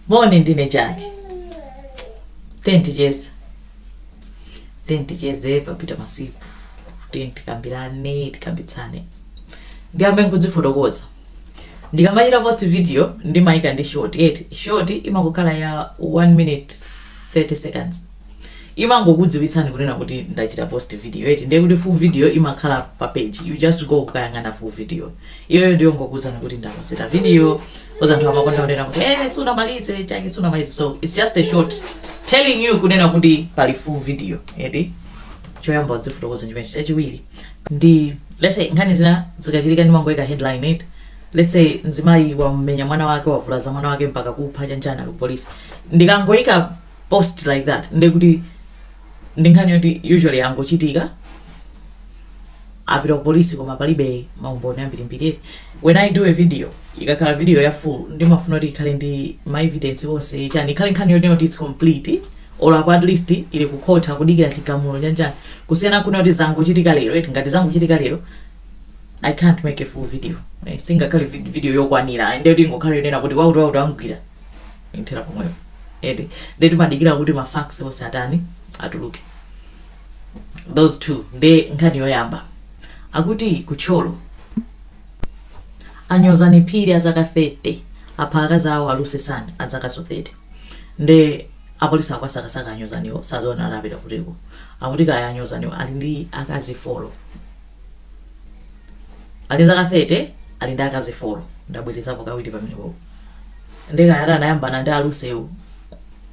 Moni, ndine Jack. Tiyeni ticheze. Tiyeni ticheze papita masiku. Tiyeni tikambirane, tikambitsane. Ndiyambe nkudzifotokoza. Ndikamachita post video ndimayika ndi short, eti short imangokhala ya 1 minute 30 seconds. imangokudziwitsani kunena kuti ndachita post video eti ndiye kuti full video imakhala pa page you just go kukayang'ana full video iyoyo ndi yongokuwuzani kuti ndakonzera video coz anthu amakonda kunena kuti eh sunamalize Jack sunamalize so it's just a short telling you kunena kuti pali full video eti choyamba kudzifotokoza chimenecho chachiwiri ndi let's say nkhani zina zikachitika ndimangoyika headline eti let's say mzimayi wamenya mwana wake wavulaza mwana wake mpaka kupha chanichani ku polisi ndikangoyika post like that ndiye kuti ndi nkhani yoti usually angochitika apita ku polisi koma palibe maumboni ambirimbiri eti when i do a video ikakhala video ya full ndimafuna kuti ikhale ndi ma evidence onse chani ikhale nkhani yonena kuti its complete or apo at least ili ku court akudikira chigamulo chanichani kusiyana kunena kuti zangochitika lero eti ngati zangochitika lero i can't make a full video Eh, singakhale vid- video yokwanira nde kuti ingokhala yonena kuti wakuti wakuti amgwira ithera pomwepo eti nde timadikira kuti ma facts onse atani atuluke those two nde nkhani yoyamba akuti ku Thyolo anyozani phiri azaka 30 apha akazi awo a Lucy Sani azakanso 30 nde apolisi akuwasakasaka anyozaniwo sadziwa anapita kutiko akuti kaya anyozaniwo ali ndi akazi folo ali zaka 30 ali ndi akazi folo ndabwerezapo kawiri pamenepopo ndi nde kaya ati anayambana ndi a Lucy wo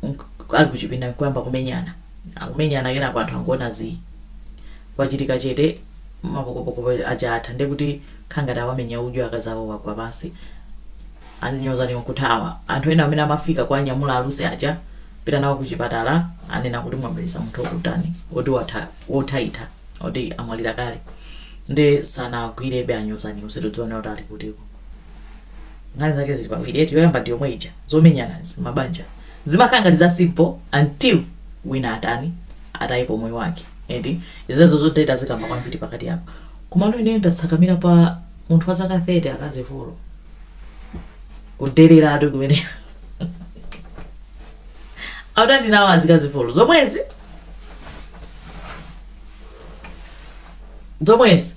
nk- ali kuchipinda nkuyamba kumenyana akumenyana kenako anthu ankuona zii kwachitika chete mapokopoko aja atha ndiye kuti nkhangati awamenya udyo akazi awo wagwa pansi anyozaniwo nkuthawa anthu ena amene amafika kuwanyamula a Lucy aja pita nawo kuchipatala anena kuti mwabweretsa munthu wokutani woti watha wothaitha oti amwalira kale nde sanawagwirebe a Nyozani sakudziwa kuti ali kutiko nkhani zake zili pawiri eti yoyamba ndi yomwe ija zomenyanazi mabanja zimakhala ngati za simple until wina atani atayipo moyo wake eti izozo zotete azikamba kwambiri pakati apo koma no ineyo ndatsakamira pa munthu wa zaka 30 akazi folo kudelera ati kumene autandi nawo azikazi folo zomwezi zomwezi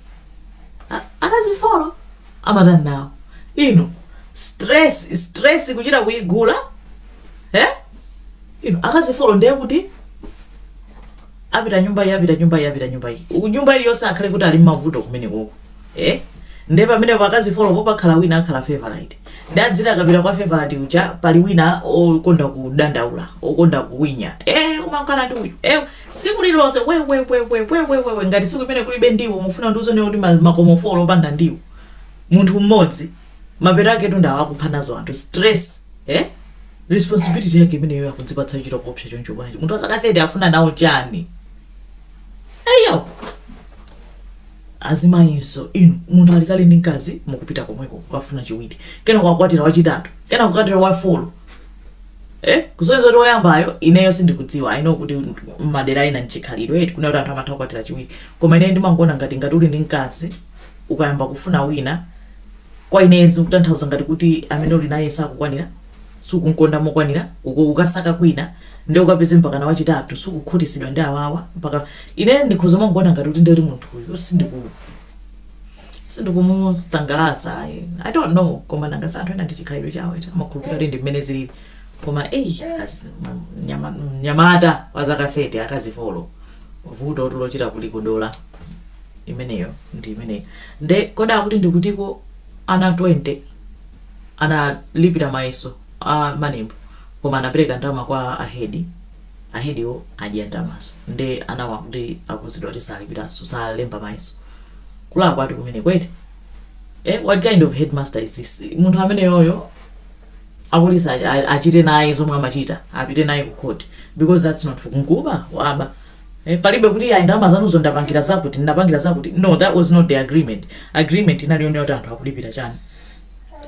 akazi folo amatani nawo inu stress stress kuchita kuyigula eh? inu akazi folo ndiye kuti apita nyumba iyi apita nyumba iyi apita nyumba iyi nyumba iliyonse akhale kuti ali mmavuto kumene koko ee nde pamenepo akazi folo po pakhala wina akhala favorite nde adziti akapita kwa favorite uja pali wina okonda kudandaula okonda kuwinya ee umakhala ndi uyu ee tsiku lililonse wewewewewewewewe ngati tsiku imene kulibe ndiwo mufuna kuti uzaone kuti ma- makomo folo opanda ndiwo munthu mmodzi mapeto ake tundawo akupha nazo anthu stress eh? responsibility yake imeneyo akudzipatsa chintchito choopsa choncho bwanji munthu wazaka 30 afuna nawo chani eee Azimayinso inu, munthu ali kale ndi mkazi mukupita komweko kukafuna chiwiri, kenako ukakwatira wachitatu, kenako kukwatira wa folo kusonyeza kuti woyambayo ineyo sindikudziwa, I know kuti mmadera ena ndichikhalidwe eti kunena kuti anthu amatha kukwatira chiwiri koma ineyo ndimangoona ngati ngati uli ndi mkazi ukayamba kufuna wina, Kwa ine zikutanthauza ngati kuti amene uli naye sakukwanira, sukumkonda mokwanira, ukukasaka kwina, ndiye ukapeze mpakana wachitatu, sukukhutisidwa ndi awawa, mpaka, ine ndikhoza kumangoona ngati kuti ndiye kuti munthu uyu sindiku, sindikumusangalatsa ayi. I don't know, koma nanga si anthu ena ndi chikhalidwe chawo eti, amakhulupilira kuti ndi mmene zilili, koma eyi, akazi, mnyamata wa zaka 30, akazi folo. vuto tu lochita kuliputa dala imeneyo ndi imeneyo nde kodi akuti ndikutiko ana 20 analipira mayeso a MANEB koma anapereka ndalama kwa ahedi ahediwo adya ndalamazo nde anawo akuti akuuzidwa kuti asalipiranso salemba mayeso kulakwa ati kumeneko eti eh, what kind of headmaster is this munthu ameneyoyo apolisi a a achite naye zomwe amachita apite naye ku court because that's not for nkuba waba eh palibe kuti ayi ndalama zanuzo ndapangira zakuti ndinapangira zakuti no that was not the agreement agreement inali yonena kuti anthu akulipira chani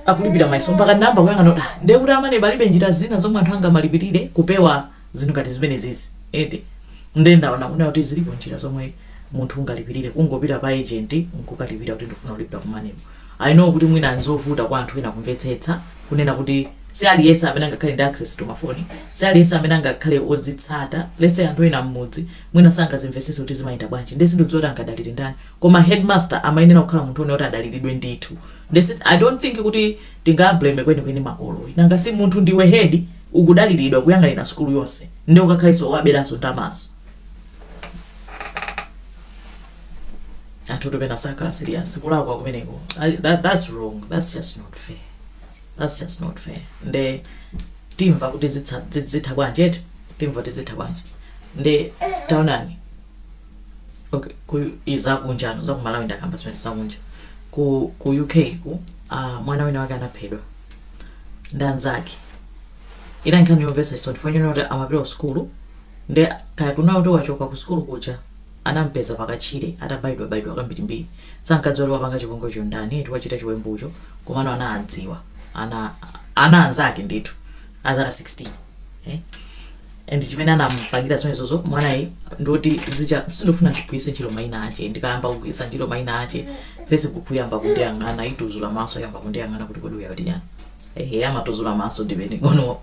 akulipira mayeso mpaka ndinayamba kuyang'ana kuti ah, ndiye kuti a MANEB palibe njira zina zomwe anthu angamalipirire kupewa zinthu ngati zimenezezi eti ndiye ndaona kunena kuti zilipo njira zomwe munthu ungalipirire kungopita pa agent nkukalipira kuti ndikufuna kulipira ku MANEB I know kuti mwina nzovuta kwa anthu ena kumvetsetsa, kunena kuti si aliyense amene angakhale ndi access to mafoni, si aliyense amene angakhale ozitsata, let's say anthu ena mmudzi mwina sangazimvesese kuti zimayenda bwanji, nde sindudziwa kuti angadalire ndani, koma headmaster amayenera kukhala munthu one oti adaliridwe ndithu, nde si, I don't think kuti tingawableme kwenikweni makolo ayi, nanga si munthu ndiwe head ukudaliridwa kuyang'anira sukulu yonse, nde ukakhalenso owaberanso ndalamazo. anthutu pena sakhala serious kulakwa kumeneko I- that, that's wrong that's just not fair that's just not fair nde timva kuti zitsa- zi- zitha bwanji eti timva kuti zitha bwanji nde taonani okay ku ku zakunja no zakumalawi ndakamba zimenezo zakunja ku ku uk ku uh, mwana wina wake anaphedwa ndi anzake iyi nkhani yomvetsa chisoni chifukwa ndinaona kuti amapita ku sukulu nde kaya kunali kuti wachoka ku sukulu kuja Anamupeza pakatchire atabaidwabaidwa kambirimbiri. Sankadziwa kuti wapanga chipongwecho n'ndani eti wachita chiwembucho komano anadziwa ana ana anzake ndithu azaka 16 eh and chimene anamupangira zimenezozo mwanayi ndi zoti zija sindifuna ndigwiritse ntchito maina ache ndikayamba kugwiritsa ntchito maina ache Facebook iyamba kundiyang'ana ituzula maso iyamba kundiyang'ana kuti kodi uyu akuti chani ehe amatuzula maso depending on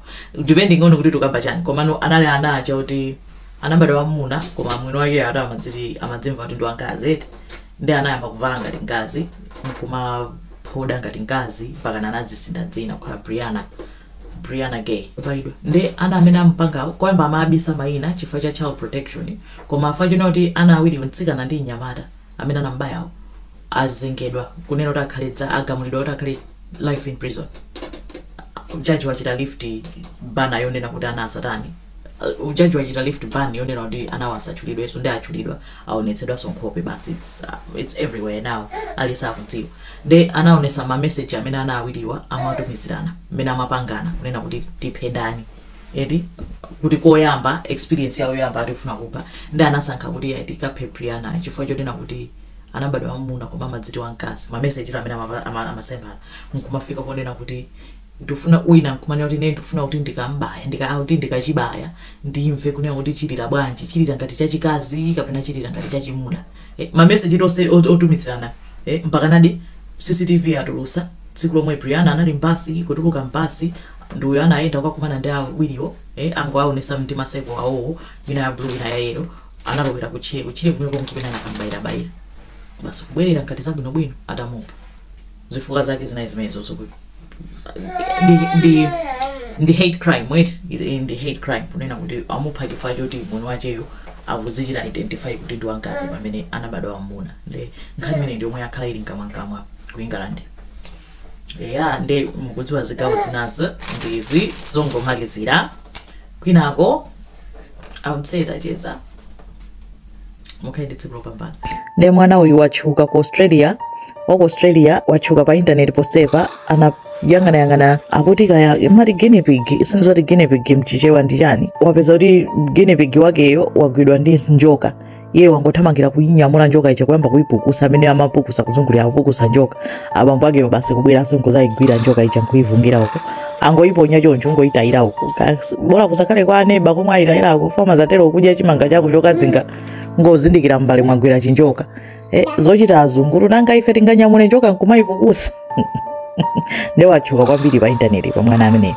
depending on kuti ukukamba chani komano anali ana aja oti anabadwa wamuna koma mwini wake ati amadz amadzimva kuti ndi wamkazi ndi anayamba kuvala ngati mkazi nkumaphoda ngati mkazi mpakana anadzisintha dzina kukhala briana briana ghey wabaidwa ndi ana amene amupangawo koyamba amaabisa mayina chifukwa cha child protection koma apa tiona kuti ana awiri mtsikana ndi mnyamata amene anamubayawo azengedwa kunena kuti akhale eh agamulidwa kuti akhale life in prison jaji wachita lift ban yonena kuti ana asatani uh, judge wachita lift ban yonena kuti anawa asatchulidwenso ndi atchulidwa aonetsedwanso nkhope basi it's, uh, it's everywhere now aliyense akudziwa nde anaonesa ma message amene ana awiriwa amatumizirana mmene amapangana kunena kuti tiphe ndani eti kuti koyamba experience yawo yoyamba ati akufuna kupha ndi anasankha kuti ayi tikaphe Brianna chifukwa chonena kuti anabadwa wamuna koma amadziti wamkazi ma message amene amapa- ama- amalemberana nkumafika ponena kuti ndufuna wina kumanena kuti ine ndufuna kuti ndikam'baya ndika kuti ndikachibaya ndimve kunena kuti chilira bwanji chilira ngati chachikazi kapena chilira ngati chachimuna eh, ma message onse ot- otumizirana eh, mpakanadi cctv atulutsa tsiku lomwe briana anali mbasi kutuluka mbasi ndi uyo anayenda kukakumana ndi awiriwo eh, angowaonesa ndi majekete awowo ina ya blue ina ya yelo analowera kutchire kutchire kumeko nkumene anakam'bayirabayira basi kubwerera ngati zabwinobwino atamupha zifukwa zake zinali zimenezo zokuti ndi ndi ndi hate crime eti ili ndi hate crime kunena kuti amupha chifukwa choti mwini wacheyo akudzichita identify kuti ndi wamkazi pamene anabadwa wamuna ndi nkhani imene ndi yomwe yakhala ili mkamwamkamwa ku england eya ndi mukudziwa zigawo zinazo ndi izi zongomalizira kwinako I would say tacheza mukhale ndi tsiku lopambana ndiye mwana uyu watchuka ku austra waku australia watchuka pa intaneti ponsepa ndinayang'anayang'ana akuti kaya amati guinea pig sindidziwa kuti guinea pig mchichewa ndi chani wapeza kuti guinea pig wakeyo wagwidwa ndi njoka iye wangothamangira kuyinyamula njoka ija kuyamba kuyipukusa amene amapukusa kuzungulira kupukusa njoka abambo akeyo basi kubweranso nkudzayigwira njoka ija nkuyifungira uko angoiponya choncho kungoitayira uko bora kusakhale kwa aneba komwe ayitayira uko fama zatero ukudya chimanga chako chokazinga kungozindikira mbale mwagwera chinjoka eh, zochita azunguru nanga ife tinganyamule njoka nkumayipukusa nde watchuka kwambiri pa intaneti pa mwana ameneyo